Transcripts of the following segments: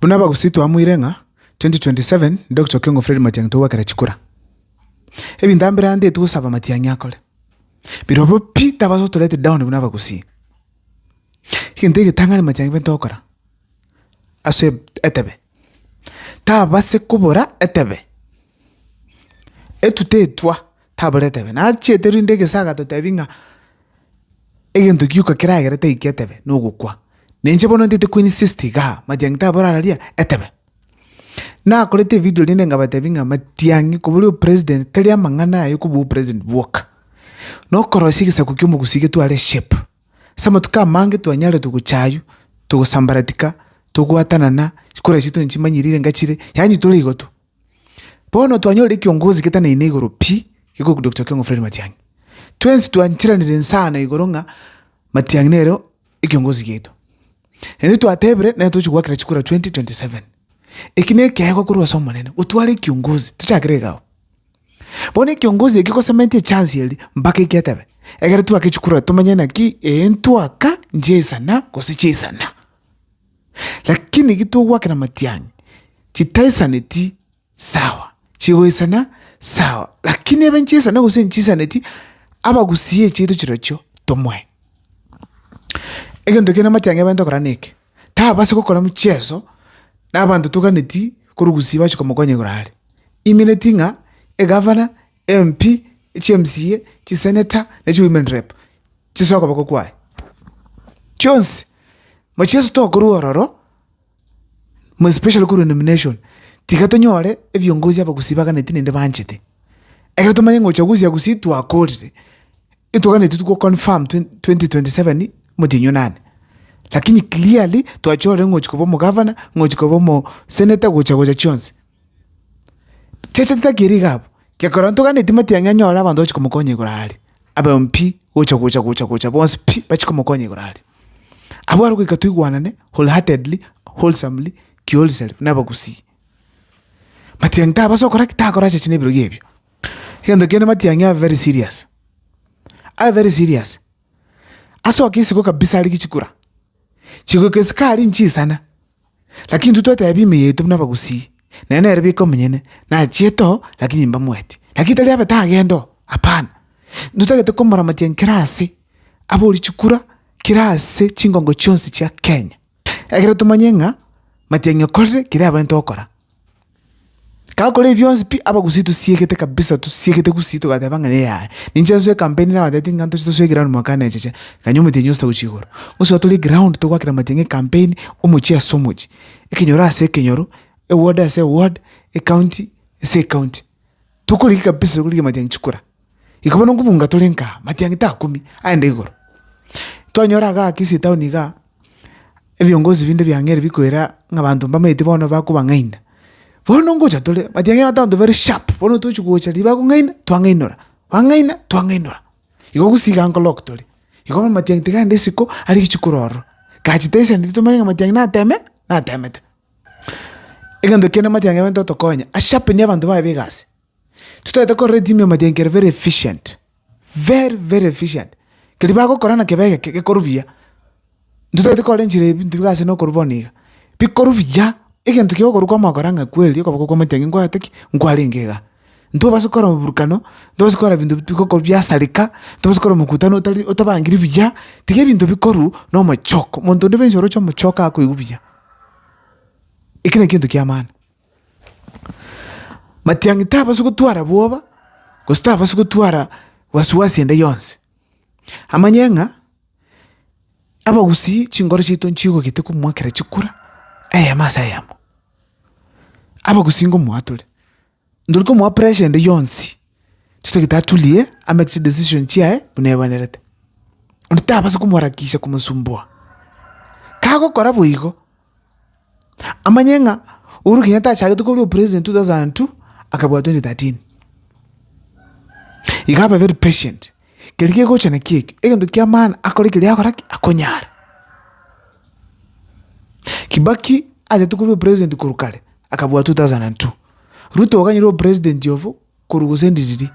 Buna abagusii twamoire ng'a 2027 nde gochia King of Fred Matiang'i togwekera chikura. Ebinto ambere ande eti gosaba Matiang'i akore. Birobio pi tabaasa gotorete down buna abagusii. Egento egetang'ani Matiang'i bento ogokora ase etebe, tabase kobora etebe. Etutetwa. Taboreti abe nachiete rinde egesaga totebi ng'a egento gioka keragere taikia etebe nogokwa. Na inche bono ntaete koinsist igaa, matiang'i tabore ara ria etebe. Nakorete evidio rinde nkabatebi ng'a matiang'i kobua ria opresident tari amang'ana aye kobua opresident bwoka. Na okorosia egesaku kia omogusi getware shape. Ase amatuko amange twanyarete gocha aywo, togosambaratika, togwatanana, chikura chiaito nchimanyerire ngachire, yaani tore igo tu. Bono twanyorire ekiongozi getaneine igoro pi gekorwa Doctor Kiongo Fred Matiang'i. Twensi twanchiranire ensana igoro ng'a Matiang'i nere ekiongozi giaito. Naende twatebire nere tochi goakera chikura 2027. Eki na ekeegwa korwa ase Omonene, gotwara ekiongozi tochakere iga abwo. Bono ekiongozi ekio gosementia echance eria mpaka ekiatebe, egere twake chikura tomanye naki ee ntwaka nchiaisana gose chiaisana. Lakini eki togwakera amatiang'i chitaisaneti sawa, chigoisana sawa, lakini ebe nchisaine gose nchisaneti abagusie chiaito chirochio tomoe. Egento kende amatiang'i abaye tokora neke, tababasi gokora mcheso na abanto toganeti korwa gusii bachi komokonya igoro are. Imineti ng'a egavana, MP, echiMCA, chiseneta, ne chiwomen rep. Chisa okoboko kwaye chionsi. Buna Yeso tokorwa ororo, more especially korwa nomination, tiga tonyore ebiongozi abagusi baganetie naende banchete. Ekero tomanya ng'a ochagusi ya Gusii twakorire, etoganetie go confirm twen- twenty twenty seven motienyi o nani. Lakini clearly twachorire ng'a ochia koba omogavana, ng'a ochia koba omo senator gocha gocha chionsi. Chiacha titakeire iga abwo, gekogera onto gane etima tiangi anyore abanto bachi komokonya igoro aria, ababe pi, gocha gocha gocha gocha bonsi pi, bachi komokonya igoro aria. Abwo are goika toigwanane whole heartedly, wholesomely, ki wholesale buna abagusii. Matiang'i tabasa gokora ki? Takora chiachi na ebiroria ebio. Egento kende matiang'i abe very serious, abe very serious, asoke isiko kabisa are gichikura, chigoika isiko aria inchisana, Lakini intwe twatebia ime yaito buna abagusii, naye nere bweka omonyene nachiete oo, lakini imbamoeti. Lakini tari abete agende oo, hapana, intwe totagete komoramatia nkere ase abori chikura, kera ase chingongo chionsi chia Kenya, ekero tomanye ng'a matiang'ani okorire keria abwenerete gokora. Gakora ebi bionsi pi, abagusi tosiegete kabisa tosiegete gusii togateba ng'a yaya, ninche nsoe ekampeni nabo batebete ng'a ntoche tosoe eground mwaka one echeche, gakanywa omotienyi ogosuta gochia igoro. Gosoa tore eground togwakera amatiang'i ekampeni, omochie ase omochie, ekenyoro ase ekenyoro, eward ase eward, ecounty ase ecounty. Tokorigia kabisa tokorigia amatiang'i chikura. Igo bono nkobunga tore nka matiang'i takumia, aende igoro. Twanyora igaa Kisii town igaa, ebiongozi binde bia Nyeri bikoira ng'a abanto mbamaeti bono bakobang'aina. Bono ngocha tore, matiang'i abanto abanto bare sharp, bono tochi gocha riria bakong'aina, twang'ainora, bang'aina, twang'ainora. Igo gusii igaa nkolock tore, igo bono matiang'i tiga aende isiko, aria richi kororwa. Gachi tesani titomanye ng'a matiang'i nateme, natemete. Egento kende matiang'i abaito otokonya, a sharpen abanto baye ba egasi. Titaete korora etimu ya Majengo very efficient, very very efficient, keria bagokora na kebe egeke gekorwa buya, titaete korora enchera ya ebinto biga ase na okorwa bono iga, bikorwa buya, egento kia okorwa kwa omogokora ng'a kweri okoboko kwa omoteng'eni nkwagete ki? Nkwarenge iga. Ntobasa kokora oborokano, ntobasa kokora ebinto bigokorwa biasareka, ntobasa kokora omokutano otari otabangiri buya, tiga ebinto bikorwe na omochoko, omonto onde bwensi oroche omochoko akoigwa buya. Ekio nekio egento kiamana. Matiang'i tabasi gotwara bwoba, gose tabasi gotwara wasiwasi ende yonsi. Amanye ng'a abagusii chingoro chiaito nchigogete komua ekero chikura, eyemo ase eyemo. Abagusii ngomoa tore, ndori komoa pressure ende yonsi, titagete atulie, amake chidecision chiaye buna ebwenerete. Onde tabasi komoharakisha komosumbua. Kagokora boigo. Amanye ng'a Uhuru Kenyatta achagete korwa opresident two thousand and two, akabua twenty thirteen. Iga abe very patient, keria kegocha nakio ekio, egento kia maana akore keria akora ki? Akonyare. Kibaki atagete korwa opresident korwa kare, akabua two thousand and two. Ruto iga nere opresident obo korwa gose endi riria,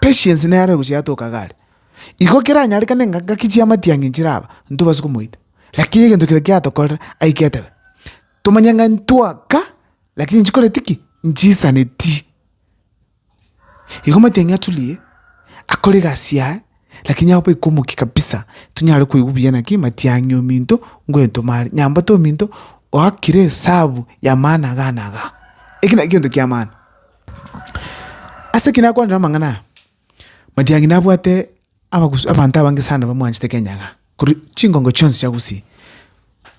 patience nere arogochia yatoka iga are. Igo keranyarekane ng'a ngaki chiama tiang'e nchiraba, ntobase komoita. Lakini egento keria kiatokorera ai getebe, tomanye ng'a ntwaka, lakini nchikoreti ki? Nchisaneti. Igo omatienyi aturie akore egasi yaye, lakini abe baika omokia kabisa, tonyare koigwa buya naki matiang'i ominto ngwentoma are, nyambate ominto oakire esabu ya maana iga na iga. Eki naki egento kiamana. Ase ki nakwanera amang'ana aya. Matiang'i nabwate abagusu abanto abange sana bamwanchete Kenya iga, korwa chingongo chionsi chia Gusii,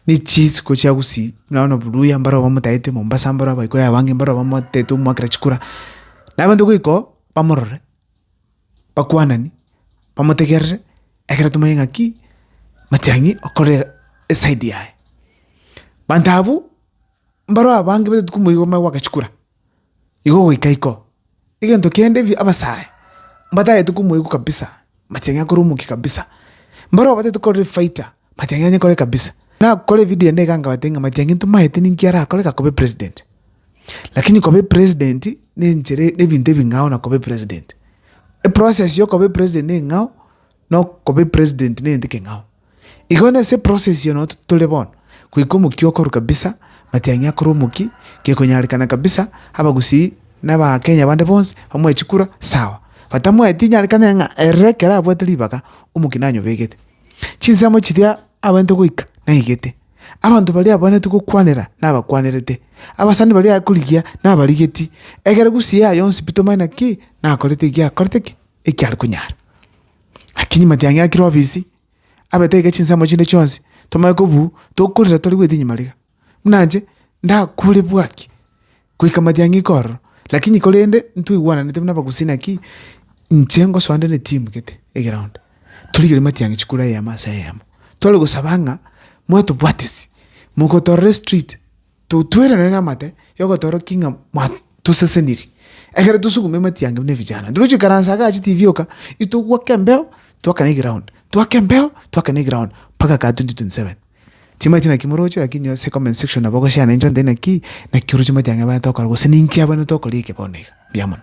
ne chisiko chia Gusii nonya buna Oburuya mbare bamotagete, Mombasa mbare Abaikoi abange mbare bamotagete omoakera chikura, na abanto goika oo bamorore, bakwanani, bamotegerere ekero tomanye ng'aki Matiang'i okore esaidi yaye. Banto abwo, mbaro abange baitu komoigwa omanye goaka chikura. Igo goika iko, egento kende ebi abasae mbatagete komoigwa kabisa, mati ang'e akore omokia kabisa. Mbare obatagete korora efaita, mati ang'e anyekore kabisa. Nakore evideo ende iga nkabatebia ng'a mati ang'e ntomaete ninki arakore iga akoba epresident. Lakini koba epresident na enchera na ebinto ebing'ao na koba epresident. Eprocess ya okoba epresident neng'ao, na okoba epresident negento ekeng'ao. Igo nase eprocess eye no tore bono, goika omokia okoru kabisa, matiang'i akore omokia, gekonyarekana kabisa abagusii na abakenya bande bonsi bamoe chikura sawa. Batamoeti inyarekane ng'a ere ekero abwate ribaga omokia nonye obegete. Chinsemo chiria abwenerete goika naigete, abanto baria abwenerete gokwanera nabakwanerete, abasani baria aye korigia nabarigeti, egere gusii yaye yonsi pi tomanye naki nakorete ekiakorete ki, ekiare konyara. Lakini matiang'i a Kilovis abete iga chinsemo chinde chionsi, tomanye kobu tokorera tore goeta inyuma riga. Buna inche ndakure bwaki goika matiang'i iko ororo, lakini korende ntwaigwananete buna abagusi naki inche ngosoa nde ne timu gete egeround, torigere matiang'i chikure eyemo ase eyemo, tore gosaba ng'a mwatobwatisi, mogotorere street. Totuerane namate yogotorokia ng'a mwatoseseniri, ekero tosugume ematiangi buna ebijana. Ntogochia goikaransa iga ache tibi oka, itogwake embeo, twakane eground, twake embeo, twakane eground, mpaka kaa twenty twenty seven. Chimache naki moroche lakini ase comment section nabo ogosiana intwe nde naki, naki oroche amatiangi abana tokora gose ninki abana tokora eke bono iga. Mbuya mono.